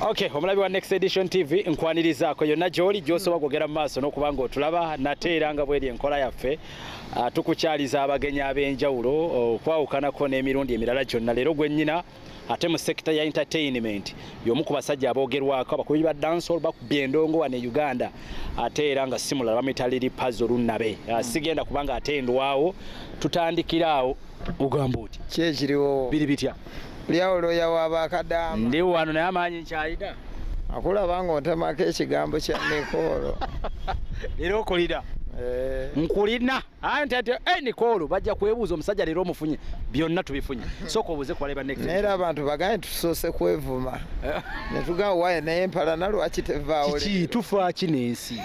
Okay, omulabi wa Next Edition TV nkwanirizaako yonna gy'oli gy'osobola kwogera mu maaso n'okuba ng'otulaba nate era nga bweri enkola yaffe ah, tukukyaliza abagenyi ab'enjawulo okwawukanako n'emirundi emirala gyonna leero gwennyina ate mu sekita ya entertainment y'omu ku basajja aboogerwako abakubi ba dancehall bakubba endongo wano e Uganda ate era nga si mulala bamuyita Lili Pazo Lunnabe ah, hmm. sigenda kubanga ate ndwawo tutandikiraawo ogamba oti kyekiriwo biri bitya Lyawo looya wa bakadaama. Ndi wano naye amaanyi nkyalina. Akulaba ng'ontemako ekigambo kya Nikoolo. Leero okulira. Eh. Nkulina. Ayi nti ati eh, Nikoolo bajja kwebuuza omusajja leero omufunye. Byonna tubifunye. Sooka obuuze ku baleba next. Naye abantu baganye tusoose kwevuma. Eh. Ne tugamba waye naye mpalana lwaki tevaawo. Kiki tufa ki n'ensi?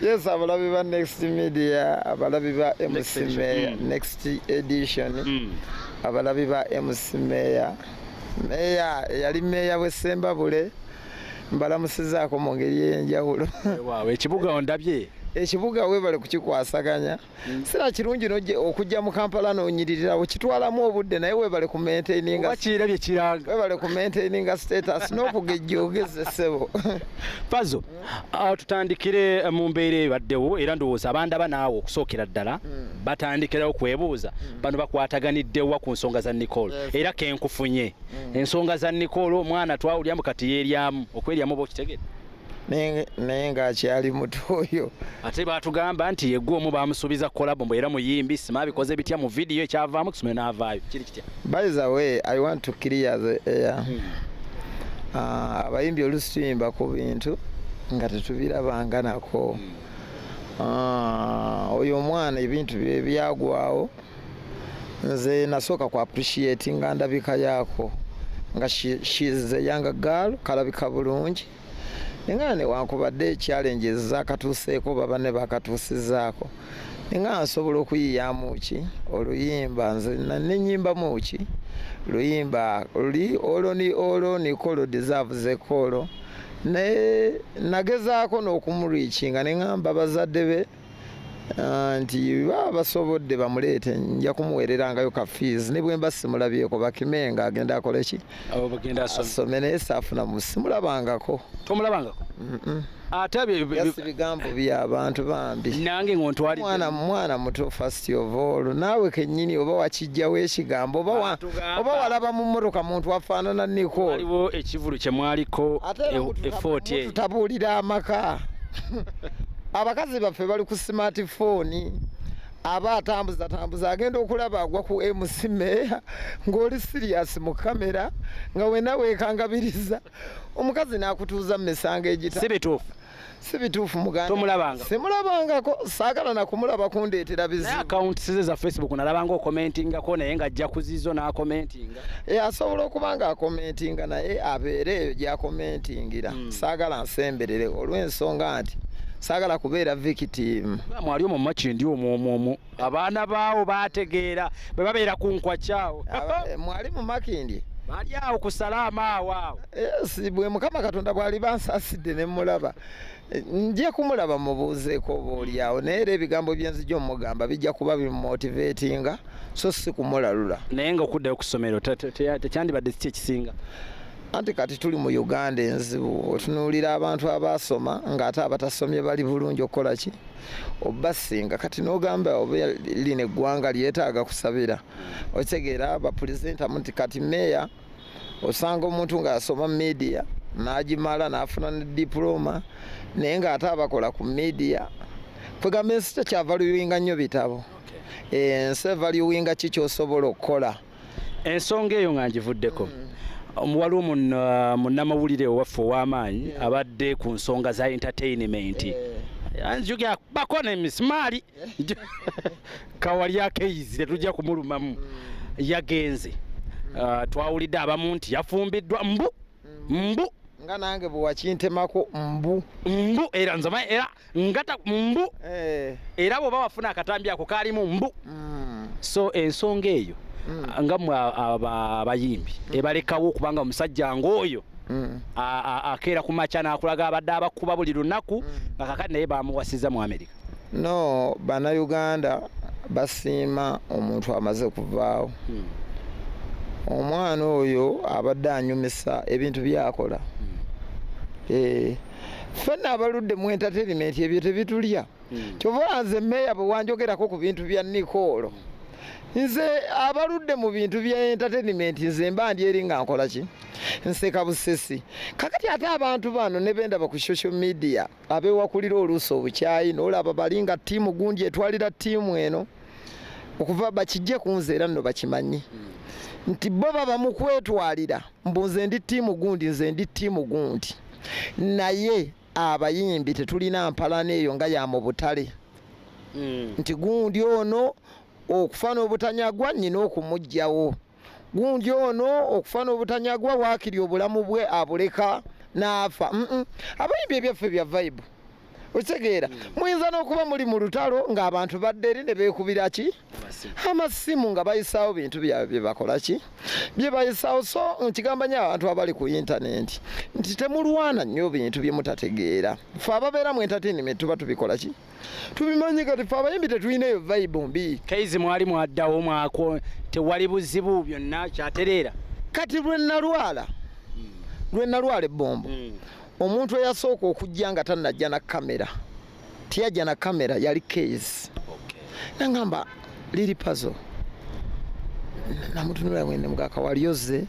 yes abalabi ba next media abalabi ba mc meya mm. next edition mm. abalabi ba mc meya meya eyali meya wesembabule mbalamusizaako mu ngeri eyenjawulo ekibuga ondabye ekibuga webale kukikwasaganya Mm. sira kirungi okujja mu kampala nonyiririrawo kitwalamu obudde naye webale ku maintainingakiirabye kiranga webale ku maintaininga status n'okugejjoogeze ssebo fazo uh, tutandikire uh, mu mbeera ebaddewo era ndowooza abandaba naawe okusookera ddala mm. batandikirawo kwebuuza mm. bano bakwataganiddewa ku nsonga za nicole era kenkufunye ensonga za nicole omwana twawulyamu kati yeryamu okweryamu oba okitegere naye nga akyali muto oyo ate batugamba nti yegwe omu bamusuubiza kolabo mbu era muyimbi sima abikoze bitya mu vidiyo ekyavaamu kusome n'avaayo kiri kitya by the way i want to clear the air hmm. ah, abayimbi olusi tuyimba ku bintu nga tetubirabanganako hmm. ah, oyo omwana ebintu bye byagwawo hmm. nze nasooka ku appreciate nga ndabika yaako nga shiz eyanga gaal kalabika bulungi nga newankubadde challenges zakatuuseeko baba ne bakatuusizaako nga nsobola okuyiyamu ki oluyimba nze nenyimbamu ki luyimba luli olwo ni olwo nikolo deserve zekolo naye nagezaako n'okumurikinga ne ngamba bazadde be Ah, nti baba basobodde bamuleete nja kumuwererangayo ka fees ne bwemba simulabyeko bakimenga agenda akoleki asome naye saafuna simulabangako tomulabangako ate bigambo byabantu bambi nange ngontwalimwana mwana muto first of all naawe kenyini oba wakijjawo ekigambo oba walaba mu mmotoka muntu afaanana niko waliwo ekivulu kyemwaliko efooti e, e, e, tutabuulira amaka abakazi baffe bali ku smart phone aba atambuza tambuza agenda okulaba agwa ku mc meya ng'oli sirias mu kamera nga wena wekangabiriza omukazi n'akutuuza mu misango egita si bituufu si bituufu mugandatomulabanga simulabangako saagala nakumulaba kundeetera bizibu akawunti size za facebook nalabanga okomentingako naye ng'ajja kuzizo n'akomentinga Eh, asobola okuba nga akomentinga naye abeere eyo gyakomentingira hmm. saagala nsemberere olw'ensonga nti saagala kubeera victimu mwali omu maki ndi omwomwomu abaana baawo baategeera bwe babeera ku nkwakyawo eh, mwali mu makindi bali awo ku salaama awo awo bwe mukama katonda bwali bansasidde ne mulaba nja kumulaba mubuuzeeko oba olyawo naye era ebigambo byenzija omugamba bijja kuba bimumotivatinga so si kumulalula naye nga okuddayo ku ssomero tekyandibadde kiki ekisinga anti kati tuli mu uganda enzibu otunuulira abantu abaasoma ng'ate abatasomye bali bulungi okukola ki obasinga kati n'ogamba oba lino eggwanga lyetaaga kusabira okitegeera bapulezentamu nti kati meeya osanga omuntu ng'asoma media n'agimala n'afuna ne dipulooma naye ng'ate abakola ku media kwegamba ensi tekyavaluwinga nnyo bitabo eh, ensi evaluwinga ki kyosobola okukola ensonga eyo nga ngivuddeko mm. Um, waliwo uh, munnamawulire owaffe ow'amaanyi abadde ku nsonga za entertainment eh. anzijukira bako nemisimaali kawalya keizi tetujja kumulumamu yagenze ah, twawulidde abamu nti yafumbiddwa mbu mbu nga nange bwewakintemako mbu mbu era nzama era ngata mbu eh. era bwoba wafuna akatambi ako kaalimu mbu mm. so ensonga eyo mm. nga mwe abayimbi mm. ebalekawo okubanga omusajja ngaoyo akeera ku makya nakulaga abadde abakuba buli lunaku nga kakati naye bamuwasiza mu amerika no banauganda basiima omuntu amaze kuvaawo hmm. omwana oyo abadde anyumisa ebintu byakola hmm. eh, fena abaludde mu entertainment ebyo tebitulya hmm. kyova nze meya bwewanjogerako ku bintu bya nikoolo nze abaludde mu bintu bya entertainment nze mba ndi eri nga nkola ki nseka busesi kakati ate abantu bano nebendaba ku social media abewakulira oluusi obukyayi nolaba bali nga tiimu gundi etwalira tiimu eno okuva bakijje ku nze era nno bakimanyi nti bo baba mu kwetwalira mbu nze ndi tiimu gundi nze ndi tiimu gundi naye abayimbi tetulina mpalana eyo nga ya mu butale hmm. nti gundi ono okufa n'obutanyagwa nnyina okumugjawo gundi ono okufa n'obutanyagwa waakiri obulamu bwe abuleka n'afa abayimbi ebyaffe bya vibe okitegeera hmm. muyinza n'okuba muli mu lutalo ng'abantu badde eri ne beekubira ki amasimu nga bayisaawo bintu byabwe bye bakola ki bye bayisaawo so nkigamba nyo abantu abali ku intanenti nti temulwana nnyo bintu bye mutategeera fe ababeera mu entertainment tuba tubikola ki tubimanyi kati fe abayimbi tetulina eyo vibe mbi kaizi mwali mwaddawo mwako tewali buzibu byonna kyatereera kati lwe nalwala hmm. lwe nalwala ebbombo hmm. omuntu eyasooka okujja nga tanajja na kamera tiyajja na kamera yali kaizi nangamba liri pazo namutunula wende mugaka walioze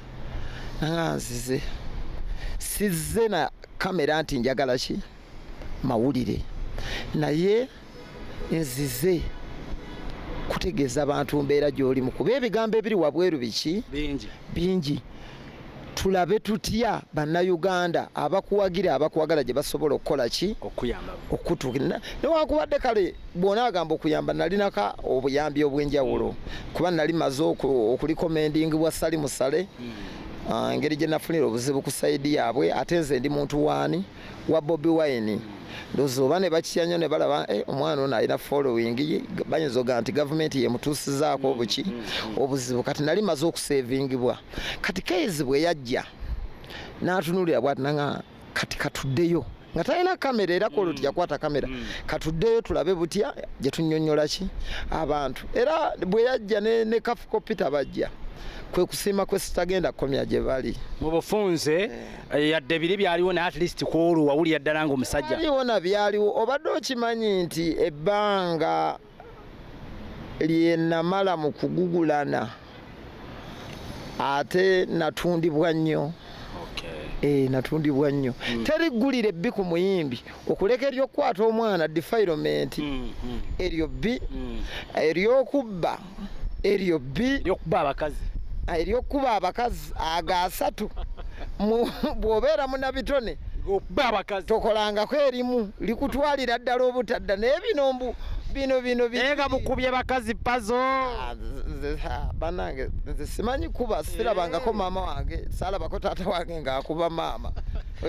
nanganzize sizze na kamera nti njagala ki mawulire naye nzize kutegeeza bantu mbeera gy'olimu kuba ebigambo ebiri wabweru biki bingi tulabe tutya bannayuganda abakuwagira abakwagala gye basobola okukola ki okutuukira newakubadde kale bwona agamba okuyamba nalinaka obuyambi obw'enjawulo kuba nali maze okulikomendingi bwa sali musale hmm. ah, ngeri gye nafunira obuzibu ku saidi yaabwe ate nze ndi muntu waani wa Bobi Wine ndoza oba ne bakitya nnyo ne balaba eh, omwana ono alina following ye bayinza ogaa nti gavumenti yemutuusizaako obuki mm, mm, mm. obuzibu kati nali maze okusevingibwa kati kezi bwe yajja n'atunulira bwati nanga kati katuddeyo nga talina kamera era kolo mm. tijakwata kamera mm. katuddeyo tulabe butya gye tunyonyola ki abantu era bwe yajja ne, ne kafuko peter bajja kwe kusiima kwe sitagenda kukomya gye bali mu bufunze eh. Eh, yadde biri byaliwo naye at least kwolwo wawulira ddala nga omusajja byaliwo na byaliwo obadde okimanyi nti ebbanga lyenamala mu kugugulana ate natundibwa nnyo eh, natundibwa nnyo hmm. teri ggulira ebbi ku muyimbi okuleka eryokukwata omwana defilement hmm, hmm. eryo bbi eryokubba eryo bbi lyokuba abakazi ah, eryokuba abakazi ago asatu bwobeera munabitone tokolangako erimu likutwalira ddala obutadda naye bino mbu bino bino nga mukubye bakazi pazo ah, banange nze simanyi kuba sirabangako eh. maama wange salabako taata wange ngaakuba maama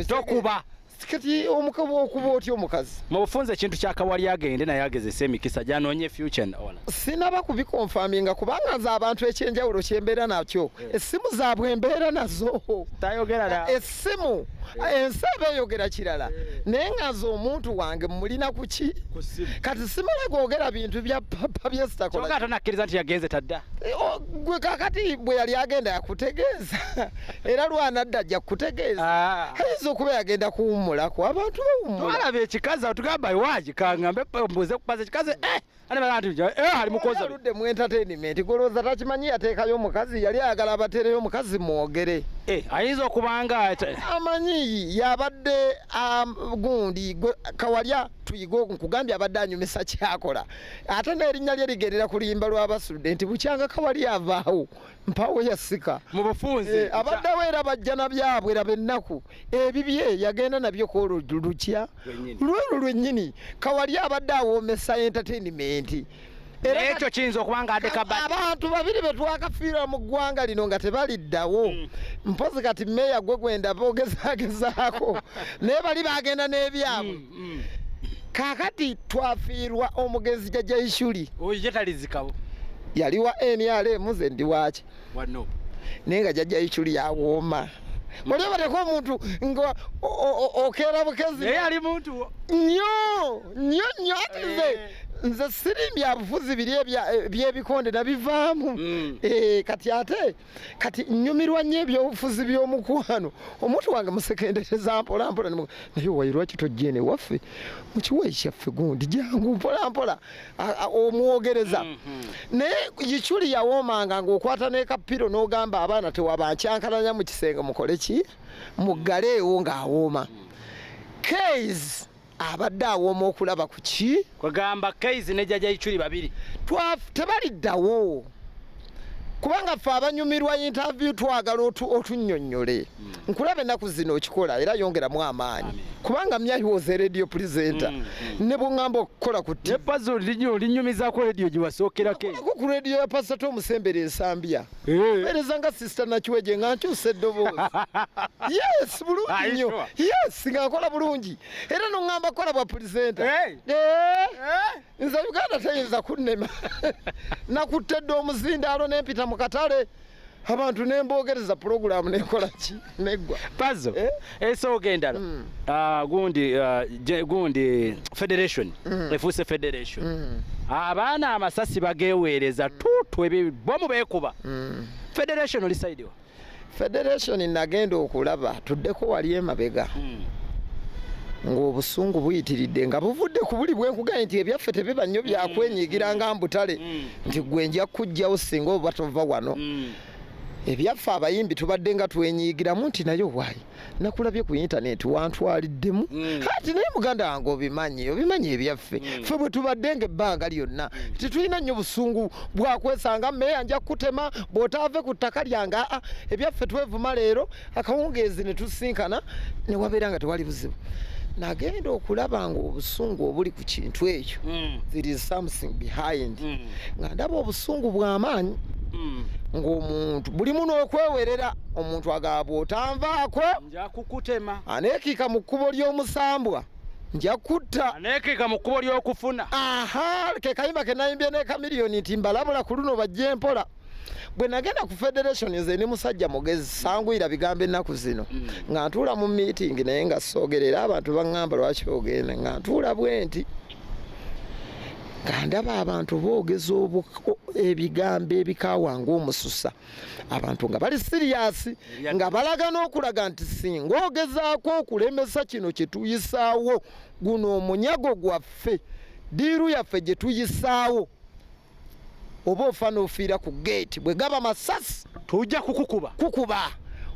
tokuba kati omukaba okuba otya omukazi mubufunza ekintu kyakawali agende naye agezesa emikisa gyanonye future ola sinaba kubikonfaminga kubanga nze abantu ekyenjawulo kyembeera nakyo eh. essimu zaabwe embeera nazo tayogera essimu eh. ensi eba eyogera kirala eh. naye nga nze omuntu wange mulina kuki kati simala googera bintu bya papa byesitakola tonakiriza nti yagenze tadda gwe kakati bwe yali agenda yakutegeeza era lwanadda ajja kukutegeeza ah. ayinza okuba yagenda kuwummulako abantu bawummulaalaba ekikazi awo tugamba iwaki kangambe mbuze kupaza ekikazi eh, eh, ali mukozaludde mu entertainment golowooza takimanyi yateekayo omukazi yali ayagala abateereyo omukazi mwogere eh, ayinza okubanga amanyi yabadde um, gundi kawalya tuyige nkugambye abadde anyumisa kyakola ate n'erinnya lye ligerera ku luyimba lw'abasudde nti bukyanga kawalya avaawo mpawo yasika mu bufunze eh, abaddewo era bajja na byabwe era bennaku ebibye yagenda nabyo kwolwo lukya lwolwo lwennyini kawali abadde awoomesa entertainment ekyo kiyinza okuba nga adekaba abantu babiri be twakafiira mu ggwanga lino nga tebaliddawo mm. mpozi kati meeya gwe gwenda boogezagezaako naye bali bagenda n'ebyabwe mm. mm. kakati twafiirwa omugenzi jaja ishuli oyo jetalizikawo yali wa nrm ze ndi waki wano naye nga jaja ishuli yawooma muli bateko omuntu nga okeera bukezi naye ali muntu nyo nyo nyo ati nze eh. nze sirimbya bufuzi biri ebyebikonde nabivaamu mm. eh, kati ate kati nyumirwa nnyo ebyobufuzi by'omukwano omuntu wange musekendereza mpolampola naye wayi lwaki tojja eno ewaffe mu kiwayi kyaffe gundi jangu mpolampola omwogereza mm-hmm. naye yikyuli yawoomanga ng'okwata n'ekapiro n'ogamba abaana tewabankyankalanya mu kisenge mukole ki muggaleewo ng'awooma kays abadde awooma okulaba ku ki kwegamba kaizi ne jaja ichuli babiri tebaliddawo kubanga ffe abanyumirwa interview twagala otunyonyole mm. nkulaba enaku zino okikola era yongeramu amaanyi kubanga myayi was a radio presenter mm, mm. ne bwongamba okukola ku tinyumizako radio giwasookerakoku radio ya pasita omusembera ensambya mpereza nga sister nakiweje nga nkyusa eddoboozi yes bulungi nnyo yes nga nkola bulungi era noŋŋamba kola bwa pulisenta eh. nze uganda teyinza kunnema nakuttedde omuzindaalo nempita mu katale abantu nembogereza pulogulaamu nenkola ki neggwa pazo Eh? esooka endala Mm. Ah, gundi ah, je- gundi federation Mm. efuuse federation Mm, abaana amasasi bageweereza tutu ebibomu bekuba mm. federation oli side wa federation nagenda okulaba tuddeko wali emabega ng'obusungu buyitiridde nga buvudde ku buli bwenkuganye nti ebyaffe tebiba nnyo byakwenyigira nga mbutale Mm. nti gwe nja kujjawo singa oba tova wano Mm. ebyaffe abayimbi tubadde nga twenyigiramu nti naye owaayi nakulabye ku intaneti wantwaliddemu mm. ati naye muganda wange obimanyi obimanyi ebyaffe mm. fe bwe tubadde nga ebbanga lyonna mm. tetulina nnyo busungu bwakwesanga meeya nja kukutema bw'otaave ku ttaka lyange aa ebyaffe twevuma leero akawungeezi ne tusinkana ne wabeera nga tewali buzibu nagenda okulaba nga obusungu obuli ku kintu ekyo mm. there is something behind mm. nga ndaba obusungu bw'amaanyi mm. ng'omuntu buli muno okwewerera omuntu agaba otanvaako njakukutema aneekiika mu kkubo ly'omusambwa nja kutta aneekiika mu kkubo ly'okufuna aha kekayimba ke nayimbye n'ekamiliyoni nti mbalabula ku luno bajja empola bwe nagenda ku federation nze ne musajja mugezi sanguyira bigambo ennaku zino mm. nga ntuula mu meeting naye nga soogerera abantu baŋŋamba lwaki ogenda nga ntuula bwenti nga ndaba abantu boogeza ebigambo ebikaawa ngaomususa abantu nga bali siriyasi nga balaga n'okulaga nti singa ogezaako okulemesa kino kye tuyisaawo guno omunyago gwaffe diiru yaffe gye tuyisaawo oba ofa n'ofiira ku geeti bwe gaba masasi tujja kukukuba kukuba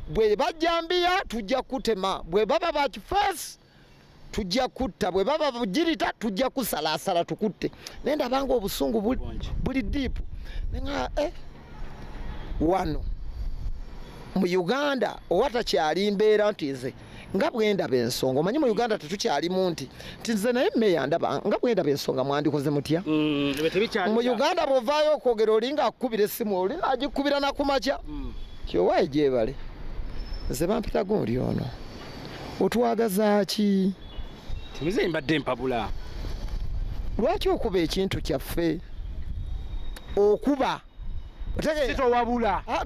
bwe bajjambiya tujja kutema bwe baba bakifeesi tujja kutta bwe baba bugirita tujja kusalaasala tukutte naye ndabanga obusungu buli diipu nega eh, wano mu uganda owa takyali mbeera nti nze nga bwendaba ensonga omanyi mu uganda tetukyalimu nti nti nze naye meya ndaba nga bwendaba ensonga mwandikoze mutya mm, mu uganda bwovaayo okwogera olinga akukubira essimu oli agikubira nakumakya mm. kyowaye gyebale nze bampitago oli ono otwagazaki timize mbadde mpabula lwaki okuba ekintu kyaffe okuba towabula ah,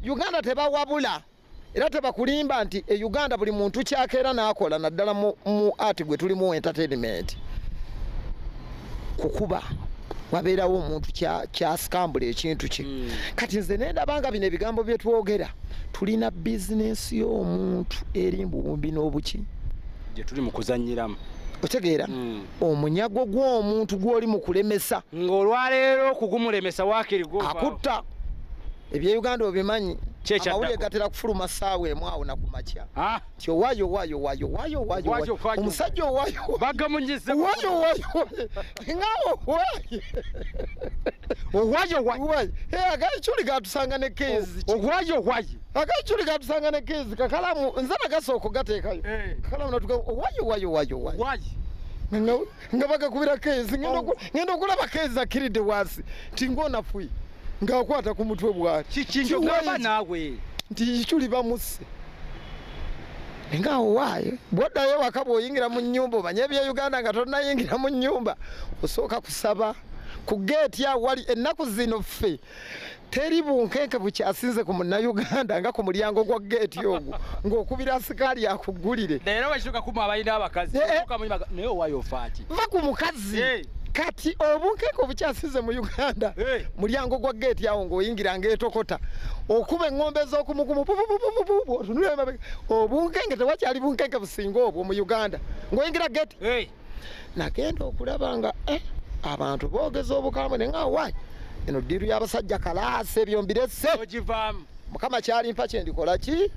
uganda tebawabula era tebakulimba nti e uganda buli muntu kyakeera n'akola naddala mu art gwe tulimu entertainment kukuba wabeerawo omuntu kyasikambula ekintu kye hmm. kati nze nendabanga bino ebigambo byetwogera tulina bizinensi y'omuntu eri mbuwumbi n'obuki gyetuli mu kuzanyiramu otegeera hmm. omunyago gw'omuntu gw'oli mu kulemesa ng'olwaleero okugumulemesa wakirigwo akutta ebye uganda obimanyi amawulire gatera kufuluma saawa emu awo nakumakya ah. nti owayo owayo owayo owayo owayo omusajja owayo bagamunyize owayo owayo nga owayo owayo owayo agaculi gatusanga ne kezi owayo owayo agaculi gatusanga ne kezi kakalamu nze nagasooka ogateekayo eh. kakalamu natuga owayo owayo owayo owayo nga bagakubira keezi ngenda okulaba keezi akkiridde wansi nti ngaonafuyi ng'akwata ku mutwe bwakikiaba naawe nti kiculi bamusse ngaawo waayo bwoddayo waka bwoyingira mu nyumba omanye ebya uganda nga tonayingira mu nyumba osooka kusaba ku geeti awali ennaku zino ffe teri bunkenke bukyasinze ku munnayuganda nga ku mulyango gwa geeti ogwo ng'okubira asikaali akuggulire eh, eh. va ku mukazi eh. kati obunkeeke obukyasinze mu uganda mulyango gwa geeti awo ng'oyingira ng'etokota okuba eŋŋombe ez'okumukumu otunula obunkenke tewakyali bunkenke businga obwo mu uganda ng'oyingira geeti nagenda okulaba nga eh, abantu bogeza obukambwe naye nga wai eno diru yabasajja kalaasi ebyo mbirese mukama kyalimpa kyendikola ki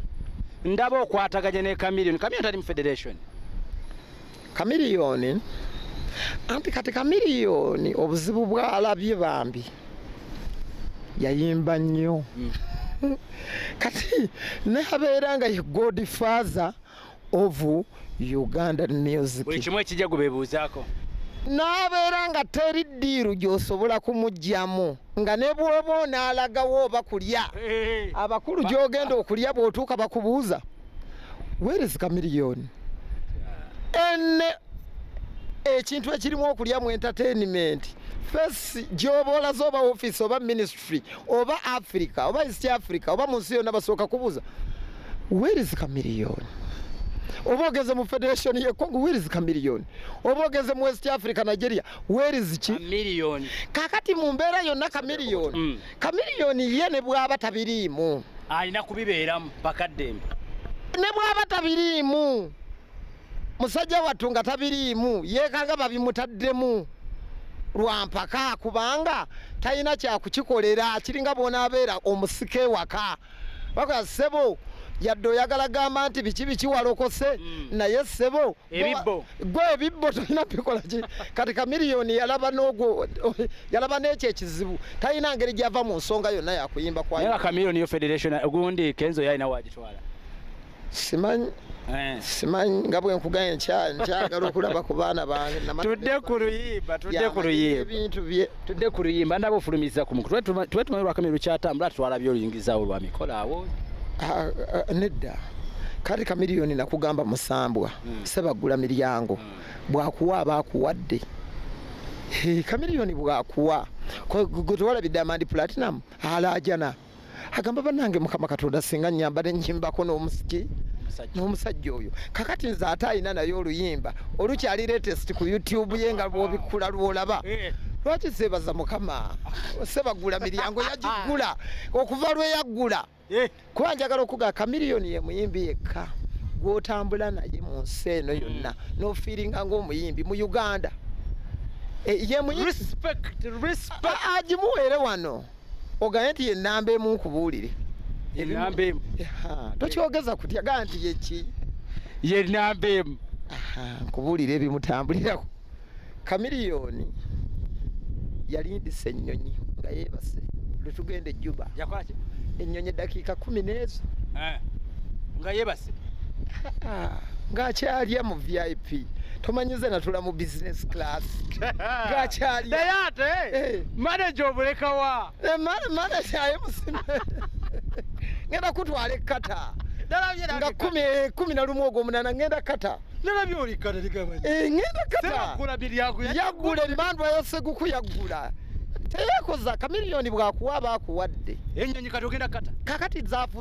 ndaba okwataganya ne kamilion kamilion tali mu federation kamilion anti kati kamilion obuzibu bwalabye bambi yayimba nnyo mm. kati naye abeera nga ye god father ovu uganda music buli kimu ekijja gubebuuzaako n'abeera nga teri ddiiru gy'osobola kumugyamu nga ne bwoba onaalagawo oba kulya abakulu gy'ogenda okulya bw'otuuka bakubuuza weerezi kamiliyoni ene ekintu ekirimu okulya mu entertainment fesi gy'oba olaze oba ofiisi oba minisitry Afri oba Africa oba East Africa oba mu nsi yonna basooka kubuuza where is Chameleone? oba ogeze mu federation ye Congo where is Chameleone? oba ogeze mu West Africa Nigeria where is ki Chameleone? kakati mu mbeera yonna Chameleone mm. Chameleone ye ne bw'aba tabiriimu alina kubibeeramu bakaddembe ne bw'aba tabiriimu musajja wattu nga tabiriimu yeekanga babimutaddemu lwampaka kubanga talina kyakukikolera kiringa bwonaabeera omusika ewaka bakola ssebo yadde oyagala gamba nti biki biki walokose mm. naye ssebo gwe ebibbo tolina bikola ki kati kamiliyoni yalaba nogwo yalaba nekyo ekizibu talina ngeri gyava mu nsonga yonna yakuyimba kwayo kamiliyoni yo federation gundi kenzo yalina wagitwala simanyi eh. simanyi nga bwenkugaye nkyagala okulaba ku baana bangetudde ku luyimba tudde ku luyimbabintu bye tudde ku luyimba ndaba ofulumiza ku mukulu tube tumanyi lwakamye lukyatambula twalabye oluyingizawo lwa mikola awo ah, ah, nedda kati kamiliyoni nakugamba musambwa hmm. sebaggula miryango hmm. bwakuwa aba akuwadde kamiliyoni bwakuwa gwetewalabidde amandi platinum alaajana agamba banange mukama katonda singa nyamba nenyimbako nomusiki nomusajja oyo kakati nze ate alina naye oluyimba olukyali latest ku youtube ye nga bwobikkula lwolaba eh. lwaki sebaza mukama sebagula miryango yagigula okuva lweyaggula eh. kuba njagala okuga kamiliyoni ye muyimbi yekka gwotambula naye mu nsi eno yonna mm. nofiiringa ngaomuyimbi mu uganda eh, ye muyimbi agimuweere wano oganye nti yenamba emu nkubuulire enamba emu tokyogeza kutya gaa nti yeki yenamba emu nkubuulire ebimutambulirako kamiliyoni yalindisa ennyonyi nga yebase lwetugenda ejjuba ennyonyi eddakiika kumi n'ezo eh, nga yebase ng'akyalya mu vip tomanyize natula mu business class ng'akyalya naye ate eh. manaja obulekawa eh, manaja aye musime ngenda kutwala ekata nga kumi eh, kumi na lumu ogwo munana ngenda kata eh, ngenda katayagula emandwa yaseguku yagula teyekoza kamiliyoni bwakuwa bakuwadde kakati zafu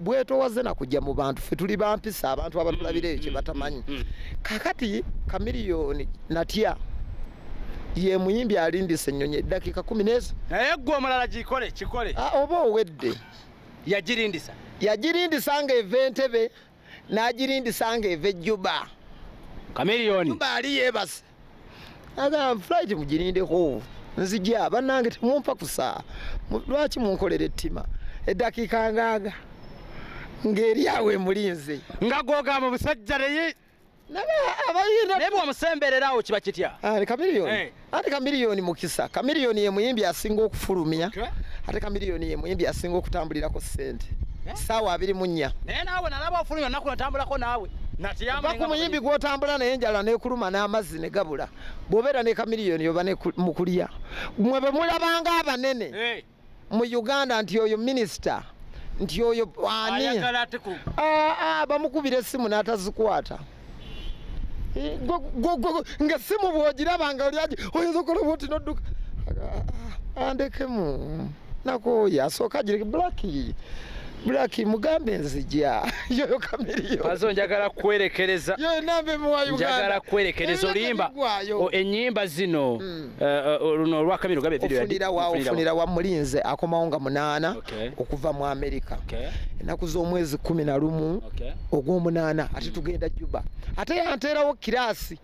bwetowaze nakujja mu bantu fe tuli bampisa abantu abatulabira ekyo mm, mm, batamanyi mm, kakati kamiliyoni natya ye muyimbi alindisa ennyonyi eddakiika kumi neeza naye gwe omulala gikole kikole ah, oba owedde yagirindisa yagirindisa nga eva entebe n'agirindisa nga eva ejjuba kamiliyoni ali yeebase aga flight mugirindeko nzija banange temumpa kusa lwaki munkolera ettima eddakiika ngaaga ng'eri awo emulinze nga gwogamba omusajja naye naye bwomusembererawo kiba kitya ah, ate eh. kamiliyoni mukisa kamiliyoni yemuyimbi asinga okufulumya ate kamiliyoni yemuyimbi asinga okutambulirako sente eh? saawa abiri munya naye naawe nalaba ofulumya naku natambulako naawe va ku muyimbi gwotambula naye enjala nekuluma n'amazzi ne gabula bw'obeera ne kamiliyoni oba mu kulya mwe bwe mulabanga abanene eh. mu uganda nti oyo minisita nti oyo ani ah, ah, bamukubira essimu n'atazikwata eh, nga simu bwogiraba nga olyagi oyinza okola bwoti nodduka ah, andekemu nakooye asooka agireke blaki blaki mugambe nzija yoyo kamiriyo pazo njagala kwerekereza yoyo nambe muwa uganda kwerekereza olimba enyimba zino hmm. eh, eh, luno olwa kamiro gabe video ofunira wa ofunira wa mulinze akomawo nga munana okuva mu america enaku z'omwezi kumi na lumu ogw'omunana ate hmm. tugenda juba ate yanteerawo kirasi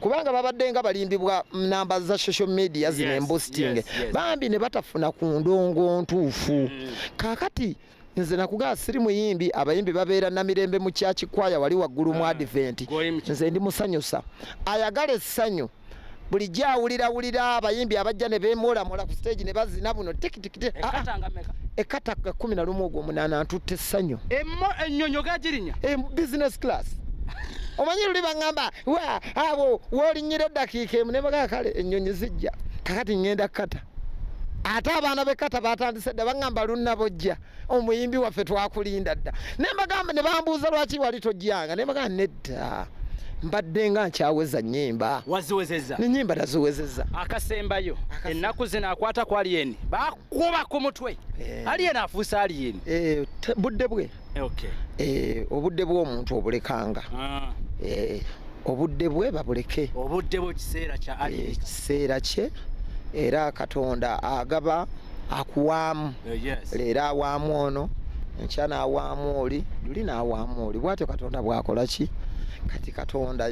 kubanga babadde nga balimbibwa namba za social media zino embusting yes, yes. bambi ne batafuna ku ndongo ntuufu mm. kakati nze nakugaa siri muyimbi abayimbi babeera namirembe mu kyakikwaya wali waggulu mu ah, adventi nze ndi musanyusa ayagala essanyu bulijjo awulirawulira abayimbi abajja ne beemwolamwola ku stage ne bazina buno tikiti ekata ga kumi na lumu ogwo munana ntutte essanyu ennyonyo gagirinya eh, business class omanyi luli baŋamba wa abo wolinyira eddakiika emu nebagaa kale ennyonyi zijja kakati ŋŋenda kukata ate abaana bekata batandise dda baŋamba lunnabojja omuyimbi waffe twakulinda dda nembagamba ne bambuuza lwaki wali tojjanga nembagamba nedda Taa. mbadde nga nkyaweza nyimba waziwezeza nenyimba naziwezeza akasembayo ennaku zino akwata ku aliyeni bakuba ku mutwe eh. aliyeni afuuse aliyeni eh, budde bwe eh, obudde bw'omuntu obulekanga ah. obudde bwe babuleke obudde bwe kiseera kya aliyeni kiseera kye era katonda agaba akuwaamu uh, leero awaamu ono enkya n'awaamu oli luli n'awaamu oli bwatyo katonda bwakola ki kati katonda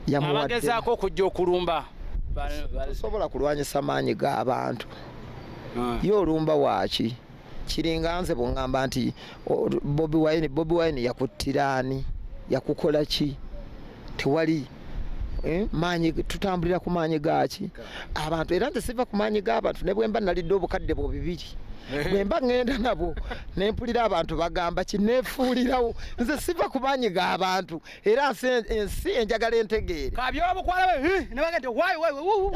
yamuwadeabagezaako okujja okulumba tosobola kulwanyisa maanyi g'abantu ah. ye olumba waaki kiringa nze bungamba nti bobi wine bobi wine yakuttira ani yakukola ki tewali eh, maanyi tutambulira ku maanyi gaaki abantu era nze siva ku maanyi g'abantu ne bwemba nalidde obukadde bwo bibiri eh. bwemba ŋŋenda nabwo ne mpulira abantu bagamba kineefuulirawo nze siva ku maanyi g'abantu era ensi enjagala entegeere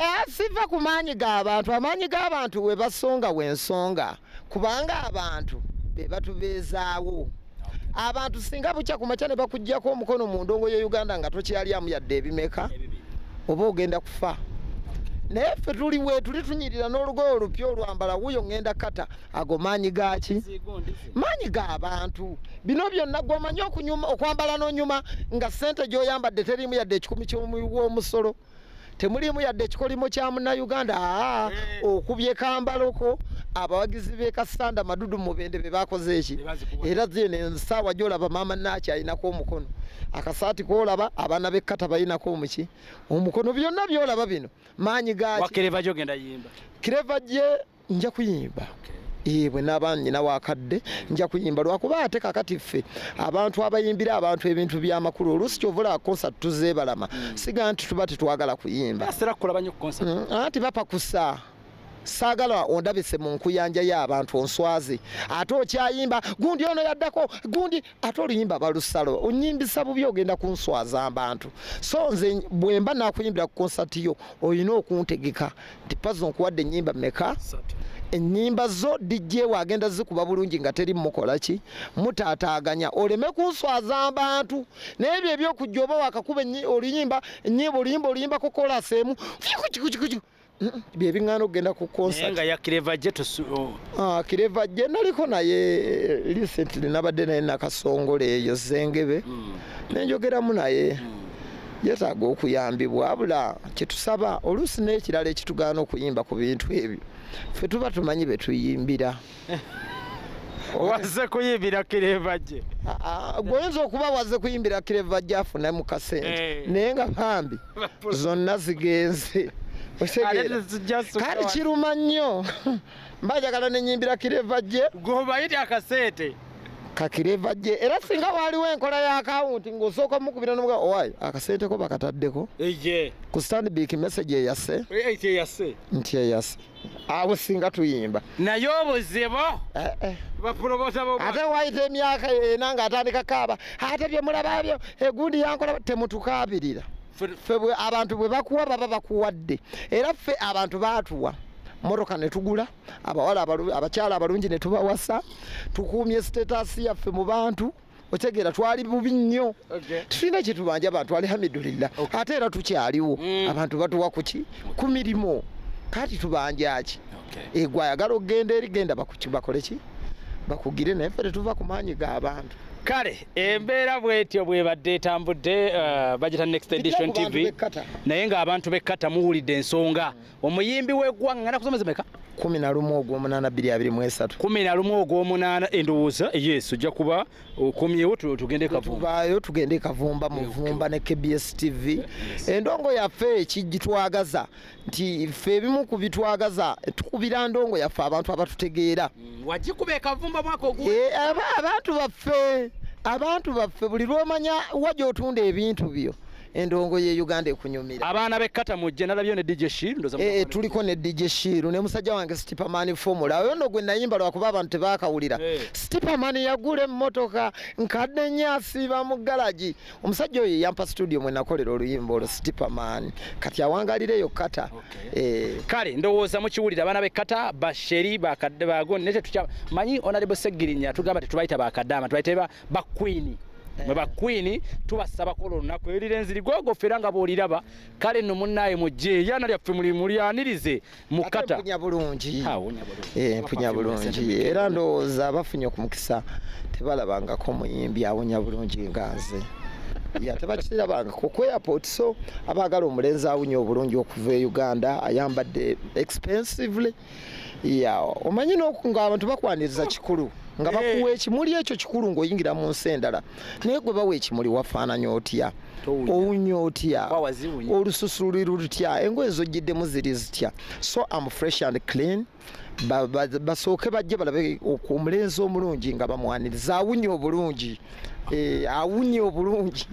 eh, siva ku maanyi g'abantu amaanyi g'abantu we basonga wensonga kubanga abantu be batubeezaawo abantu singa bukya ku makya ne bakugyako omukono mu ndongo ye uganda nga tokyalyamu yadde ebimeka oba ogenda kufa naye ffe tuli wetuli tunyirira n'olugoye olupya olwambala wuyo ŋŋenda kata ago maanyi gaaki maanyi ga bantu bino byonna gwomanyi okwambala n'onyuma nga ssente gy'oyambadde teriimu yadde ekikumi ky'omuwi w'omusolo temuliimu yadde ekikolimo kya munnayuganda aa eh. okubye kambaloko abawagizi be kasanda madudu mubende be bakoze eki era zino ensaawa gyolaba maama naaki alinako omukono akasaati kolaba abaana bekkata balinako omuki omukono byonna byolaba bino maanyi gaki kireva gye nja kuyimba ebwe naba nyina wakadde nja kuyimba lwakuba ate kakati ffe abantu abayimbira abantu ebintu byamakulu oluusi kyovula concert tuzebalama hmm. siga nti tuba tetwagala kuyimba hmm, anti bapakusa saagala ondabise mu nkuyanja y'abantu onswazi ate okyayimba gundi ono yaddako gundi ate oluyimba balusalo onyimbisa bubi ogenda kunswaza abantu so nze bwemba nakuyimbira ku konsati yo olina okuntegeka nti pazo nkuwadde enyimba meka enyimba zo dijjeewo agenda zikuba bulungi nga teri mukola ki mutaataaganya oleme kunswaza abantu naye byo ebyokujja oba wakakuba oluyimba enyimba oluyimba oluyimbako kolaseemu bye biŋŋaana okugenda ku concert nga ya kireva je tusu oh. ah kireva je naliko naye eh, recently nabadde naye nakasongole eyo zengebe mm. nenjogeramu naye mm. yetaaga okuyambibwa abula kyetusaba oluusi n'ekirala ekitugaana okuyimba ku bintu ebyo fe tuba tumanyi betuyimbira wazze kuyimbira kireva gye Ah, ah, gwoyinza okuba wazze kuyimbira kireva gyafuna mu kasente Eh. naye nga bambi zonna zigenze Otegeera? kale kiruma nnyo mba njagala nenyimbira kireva gye gwobayiri akasente kakireva gye era singa waaliwo enkola ya akawunti ng'osooka omukubira nomuga owaye akasente ko bakataddeko eye ku standbik message eyase ekyeyase nti eyase awo singa tuyimba naye obuzibu eh, eh. ate wayita emyaka ena nga atandika kaaba ate byemulababyo egundi yankola temutukaabirira fe abantu bwe bakuwa baba bakuwadde era ffe abantu baatuwa moroka netugula abawala abakyala abalungi netubawasa tukuumye sitetasi yaffe mu bantu otegeera twali bubi nnyo tulina kyetubanja abantu alihamidulillah ate era tukyaliwo mm. abantu batuwa kuki ku mirimu kati tubanjaki egwe ayagala okugenda eri genda bakoleki bakugire naye fe tetuva ku maanyi g'abantu kale embeera bwetyo bwebadde etambudde uh, bagita next edition tv naye ng'abantu bekkata muwulidde ensonga omuyimbi w'eggwanga ngana kusomeza meka kumi na lumu ogwomunaana bbiri abiri mu esatu kumi na lumu ogwomunaana endowooza yesu ojja kuba okomyewo tugende kavumbayo tugende kavumba muvumba ne kbs tv endongo yaffe ekigitwagaza nti ffe ebimu ku bitwagaza tukubira ndongo yaffe abantu abatutegeera mm, wagikuba ekavumba mwaka ogu eh, abantu baffe abantu baffe buli lwomanya wa gyotunda ebintu byo endongo ye Uganda ekunyumira abaana be kata mujje nalabyo ne DJ Shiru ndoza eh, eh tuliko ne DJ Shiru ne musajja wange Stiperman formula oyo ndo gwe nayimba lwa kuba abantu tebakawulira hey. Eh. Stiperman yagula emmotoka nkadde nyasi ba mu garage omusajja oyo yampa studio mwe nakolera oluyimba olwo Stiperman kati awangalire yo kata okay. eh kale ndowooza mukiwulira abaana be kata basheri bakadde bago nete tukya manyi onalibo segirinya tugamba tetubayita bakadama tubayita ba queen mwe ba queen tubasaba kola olunaku eyo lirenzi ligogo fera nga bwoliraba kale no munaye mujje yana lyaffe muli muli anirize mukata mpunya bulungi eh mpunya bulungi era ndoza bafunye ku mukisa tebalabanga ko muyimbi awonya bulungi ngaze ya tebakitira banga ku ku airport so abagala omulenzi awunye obulungi okuva e Uganda ayambadde expensively omanyi ngaabantu bakwaniriza kikulu nga eh. bakuwa ekimuli ekyo kikulu ngaoyingira mu nsi endala naye gwe bawa ekimuli wafaananya otya owunya otya olususu luli lutya engoye zojjiddemu ziri zitya so am fresh and clean basooke bajje balabe omulenzi omulungi nga bamwaniriza awunya obulungi eh, awunya obulungi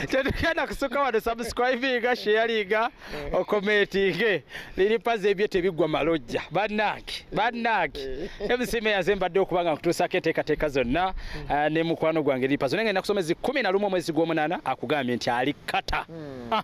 tetugenda kusuka wano subscribinga sheyalinga okomentinge liri pazi ebyo tebiggwa malojja bannange bannange emisima eyaze mbadde okuba nga nkutuusako enteekateeka zonna eh, ne mukwano gwange liri pazi naye nga nina kusoma ezi kumi na lumu omwezi gw'omunaana akugambye nti ali kata hmm. ah.